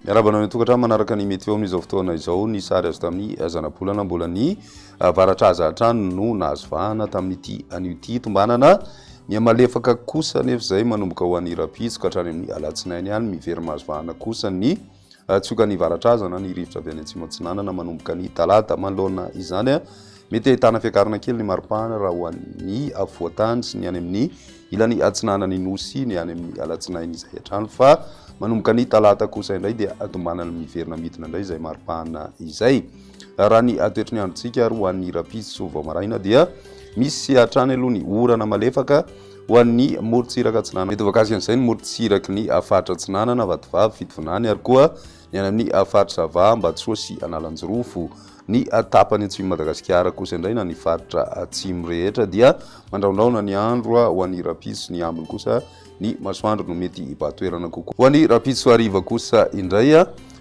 Miarahaba anao tokatrano manaraka ny météo amin'izao fotoana izao ny sary azo tamin'ny eh, zanabolana mbola ny eh, varatraza hatrany no nahazo vahana tamin'ity an'ity tombanana mihamalefaka kosa nefa izay manomboka ho an'ny rapitso ka hatrany amin'ny alatsinainy ihany mivery mahazo vahana kosa ny Hatsoka ny varatraza na ny rivotra avy any atsimo atsinanana manomboka ny talata manoloana izany. Mety ahitana fiakarana kely ny maripana raha ho an'ny afovoan-tany sy ny any amin'ny ilany atsinanan'ny nosy ny any amin'ny alatsinainy izay hatrany fa manomboka ny talata kosa indray dia atombanana miverina midina indray izay maripana izay. Raha ny atoetry ny androntsika ary ho an'ny rahampitso vao maraina dia misy hatrany aloha ny orana malefaka Ho an'ny morontsiraka atsinanana. Mitovy akasika amin'izay ny morontsiraky ny faritra atsinanana, Vatovavy, Fitovinany, ary koa ny any amin'ny faritra Ava, Ambatosoa sy Analanjirofo. Ny tapany atsimon'i Madagasikara kosa indray na ny faritra atsimo rehetra dia mandrahondrahona ny andro ho an'ny rahampitso, ny ambiny kosa ny masoandro no mety hibahan-toerana kokoa. Ho an'ny rahampitso hariva kosa indray,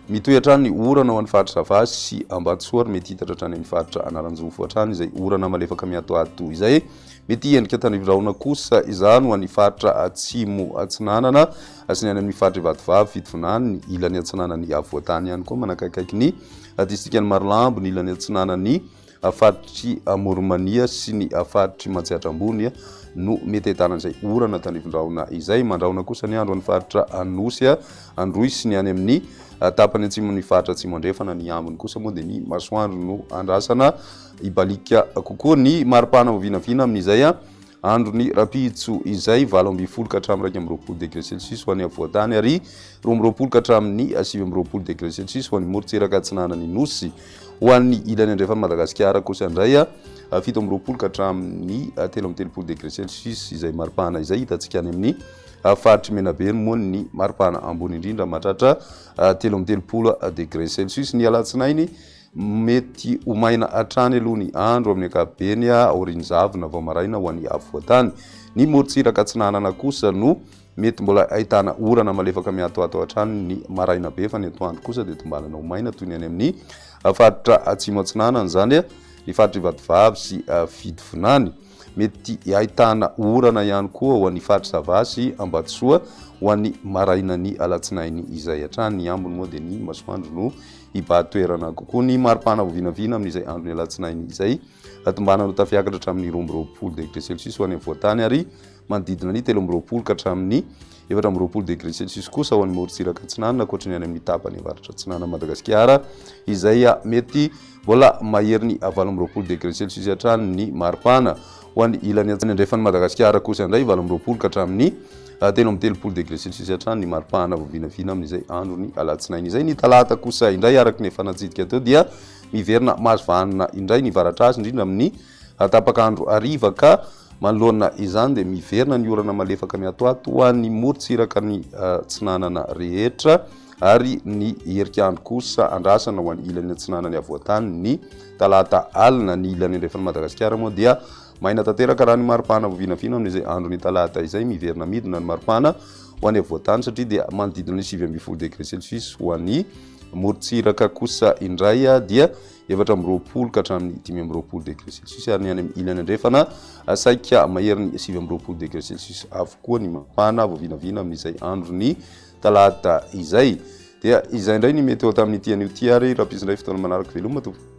mitohy hatrany ny orana ho an'ny faritra Ava sy Ambatosoa ary mety hitatra hatrany amin'ny faritra Analanjirofo hatrany izay orana malefaka mihatohato izay. Mety hiendrika tandrifin-drahona kosa izany ho an'ny faritra Atsimo Atsinanana sy ny any amin'ny faritra Ivatovavy, Fitovinany, ny ilany atsinanan'i Avoatany ihany koa manakaikaiky ny distrikan'i Marolambo, ny ilany atsinanan'ny faritr'i Amoronmania sy ny faritr'i Matsiatra Ambony no mety ahitana izay orana tandrifin-drahona izay. Mandrahona kosa ny andro an'ny faritra Anosy, Androy sy ny any amin'ny tapany atsimon'ny faritra Atsimo Andrefana. Ny ambiny kosa moa dia ny masoandro no andrasana Hibaliaka kokoa ny mari-pana ho vinavina amin'izay andron'ny rahampitso izay, valo ambin'ny folo ka hatramin'ny iraika amby roapolo degre celsius ho any afovoan-tany ary roa amby roapolo ka hatramin'ny sivy amby roapolo degre celsius ho any morontsiraka atsinanan'ny Nosy. Ho an'ny ilany andrefan'i Madagasikara kosa indray, fito amby roapolo ka hatramin'ny telo amby telopolo degre celsius izay mari-pana izay. Hitantsika any amin'ny faritr'i Menabe moa ny mari-pana ambony indrindra mahatratra telo amby telopolo degre celsius. Ny alatsinainy Mety ho maina hatrany aloha ny andro amin'ny ankapobeny aorian'ny zavona vao maraina ho an'ny afovoan-tany. Ny morontsiraka atsinanana kosa no mety mbola ahitana orana malefaka miatoato hatrany ny maraina be fa ny atoandro kosa dia tombanana ho maina toy ny any amin'ny faritra atsimo atsinanana, izany ny faritr'i Vatovavy sy Fidivinany. Mety hahitana orana ihany koa ho an'ny faritr'i Sava sy Ambatosoa ho an'ny marainan'ny alatsinainy izay hatrany. Ny ambiny moa dia ny masoandro no hibà toerana kokoa. Ny mari-pana ho vinavina amin'izay andron'ny alatsinainy izay. Hatombanana ho tafiakatra hatramin'ny roa amby roapolo degre celsius ho any afovoan-tany ary Manodidina ny telo amby roapolo ka hatramin'ny efatra amby roapolo degré celsius kosa ho an'ny morontsiraka atsinanana ankoatry ny any amin'ny tapany avaratra atsinanan'i Madagasikara izay mety mbola maherin'ny valo amby roapolo degré celsius hatrany ny maripana. Ho an'ny ilany atsimo andrefan'i Madagasikara kosa indray valo amby roapolo ka hatramin'ny telo amby telopolo degré celsius hatrany ny maripana vao vinavina amin'izay andron'ny alatsinainy izay. Ny talata kosa indray araka ny efa natsidika teo dia miverina mahazo vanona indray ny varatra azy indrindra amin'ny Ary tapaka andro hariva ka manoloana izany dia miverina ny orana malefaka mihatohato ho an'ny morontsiraka ny atsinanana rehetra ary ny herik'andro kosa andrasana ho an'ny ilany atsinanan'ny havoantany ny talata alina. Ny ilany andrefan'i Madagasikara moa dia maina tanteraka raha ny maripana vao vinavina amin'izay andron'ny talata izay. Miverina midina ny maripana ho any havoantany satria dia manodidina ny sivy ambin'ny folo degré celsius. Ho an'ny morontsiraka kosa indray dia efatra amby roapolo ka hatramin'ny dimy amby roapolo degré celsius ary ny any amin'ny ilany andrefana saika maherin'ny sivy amby roapolo degré celsius avokoa ny mafana vao vinavina amin'izay andron'ny talata izay dia izay indray ny mety ho tamin'ny ity an'io ity ary raha indray fotoana manaraka veloma tompo